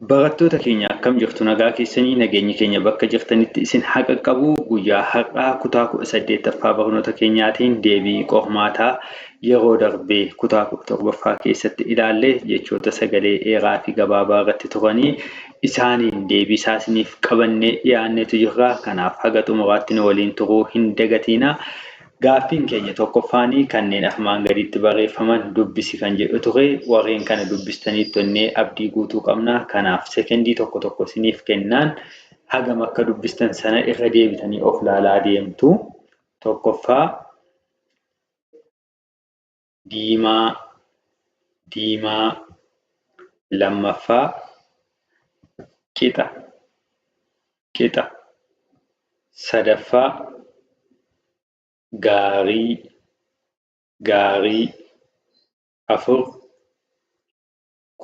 Barattoota keenya akkam jirtu nagaa keessanii nageenyi keenya bakka jirtanitti isin haqaqqabu guyyaa har'aa kutaa 18ffaa barnoota keenyaatiin deebii qormaataa yeroo darbee kutaa 17ffaa keessatti ilaalle jechoota sagalee dheeraa fi gabaabaa irratti turanii isaaniin deebii isaa isiniif qabannee dhiyaanneetu jirra kanaaf haga xumuraatti nu waliin turuu hin dagatiina Gaaffiin keenya tokkoffaan kanneen armaan gaditti barreeffaman dubbisi kan jedhu ture. Warreen kana dubbistaniittu jennee abdii guutuu qabna. Kanaaf sekendii tokko tokko isiniif kennaan hagam akka dubbistan sana irra deebitanii of laalaa deemtu. Tokkoffaa diimaa diimaa lammaffaa qixa qixa sadaffaa gaarii gaarii afur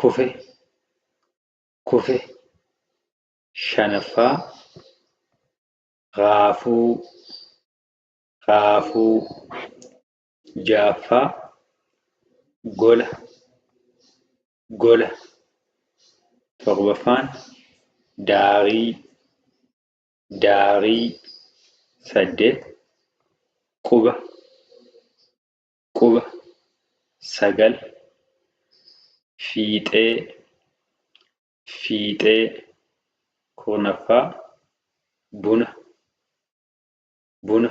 kufe kufe shanaffaa raafuu raafuu Ja'affaa, Gola, gola. Torbaffaan, Daarii, daarii. Saddeet, Quba, quba. Sagal, Fiixee, fiixee. Kurnaffaa, Buna, buna.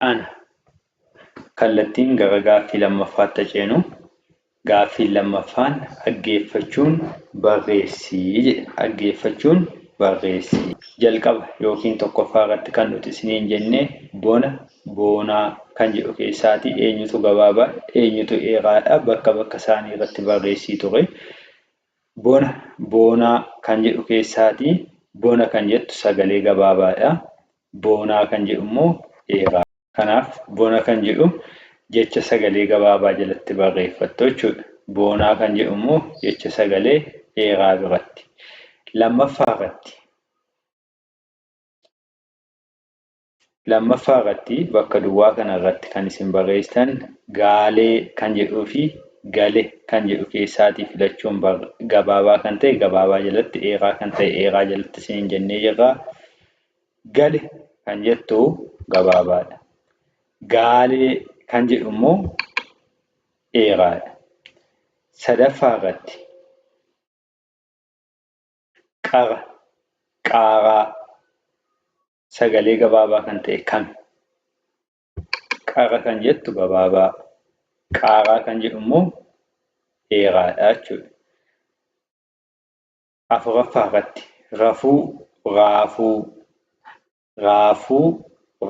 Ana. Kallattiin gara gaaffii lammaffaatti haceenu. Gaaffiin lammaffaan dhaggeeffachuun barreessi jedhe. Dhaggeeffachuun barreessi. Jalqaba yookiin tokkoffaa irratti kan nuti isiniin jenne bona, boonaa kan jedhu keessaatii eenyutu gabaabaa, eenyutu dheeraadha bakka bakka isaanii irratti barreessii ture. Bona, boonaa kan jedhu keessaatii bona kan jettu sagalee gabaabaadha. Boonaa kan jedhu immoo dheeraa. Kanaaf, bona kan jedhu jecha sagalee gabaabaa jalatti barreeffattu jechuudha. Boonaa kan jedhu immoo jecha sagalee dheeraa biratti. Lammaffaa irratti Lammaffaa irratti bakka duwwaa kana irratti kan isin barreessitan gaalee kan jedhuu fi gale kan jedhu keessaatii filachuun gabaabaa kan ta'e gabaabaa jalatti dheeraa kan ta'e dheeraa jalatti isiniin jennee jirra. Gale kan jettu gabaabaadha. Gaalee kan jedhu immoo dheeraadha. Sadaffaa irratti qara, qaaraa sagalee gabaabaa kan ta'e kami? Qara kan jettu gabaabaa, qaaraa kan jedhu immoo dheeraadha jechuudha. afuraffaa irratti rafuu, raafuu, raafuu,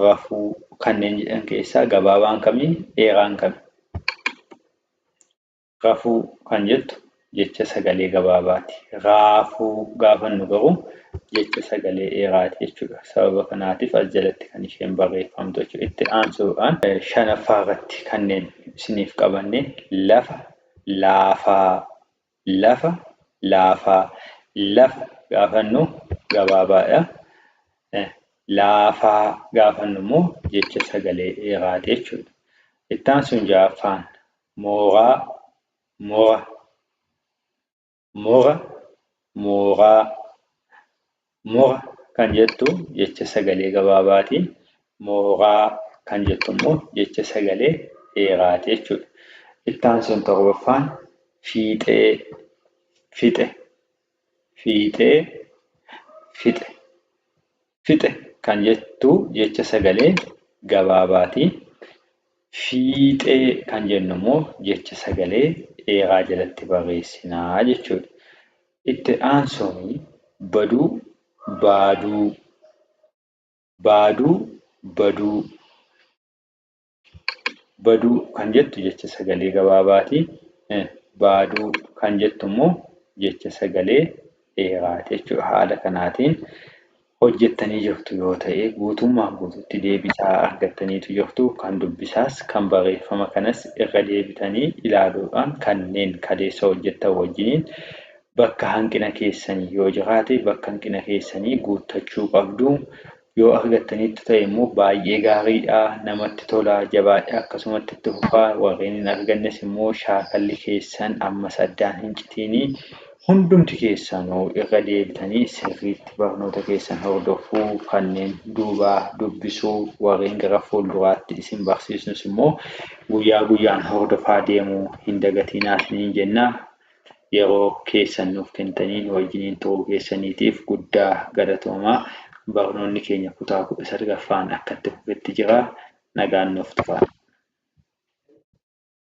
rafuu kanneen jedhan keessaa gabaabaan kami dheeraan kami? Rafuu kan jettu jecha sagalee gabaabaati. Raafuu gaafannu garuu jecha sagalee dheeraati jechuudha. Sababa kanaatiif as jalatti kan isheen barreeffamtu jechuudha. Itti aansuudhaan shanaffaa irratti kanneen isiniif qabanne lafa, laafaa, Lafa, laafaa. Lafa gaafa jennu gabaabaadha. Laafaa gaafa jennu immoo jecha sagalee dheeraati jechuudha. Itti aansuun ja'affaan mooraa, mora. Mora, mooraa. Moha kan jettu jecha sagalee gabaabaati. Mohaa kan jettu immoo jecha sagalee dheeraati jechuudha. Itti aansuun torbaffaan fiixee fixe fiixee fixe fixe kan jettu jecha sagalee gabaabaati. Fiixee kan jennu immoo jecha sagalee dheeraa jalatti barreessinaa jechuudha. Itti aansuun baduu, baaduu. Baaduu, baduu. Baduu kan jettu jecha sagalee gabaabaati. Baaduu kan jettu immoo jecha sagalee dheeraati jechuudha. Haala kanaatiin hojjettanii jirtu yoo ta'e guutummaan guututti deebisaa argattaniitu jirtu? Kan dubbisaas, kan barreeffama kanas irra deebitanii ilaaluudhaan kanneen kaleessa hojjettan wajjiniin bakka hanqina keessanii yoo jiraate bakka hanqina keessanii guuttachuu qabdu. Yoo argattaniittu ta'e immoo baay'ee gaariidha, namatti tola, jabaadhaa akkasumatti itti fufaa, warreen hin argannes immoo shaakalli keessan ammas addaan hin citiinii. Hundumti keessanuu irra deebitanii sirriitti barnoota keessan hordofuu, kanneen duubaa dubbisuu, warreen gara fuulduraatti isin barsiisnus immoo guyyaa guyyaan hordofaa deemuu hin dagatinaa isiniin jenna. Yeroo keessan nuuf kentanii nu wajjiniin turuu keessaniitiif guddaa galatoomaa. Barnoonni keenya kutaa kudha salgaffaan akka itti fufetti jira. Nagaan nuuf turaa.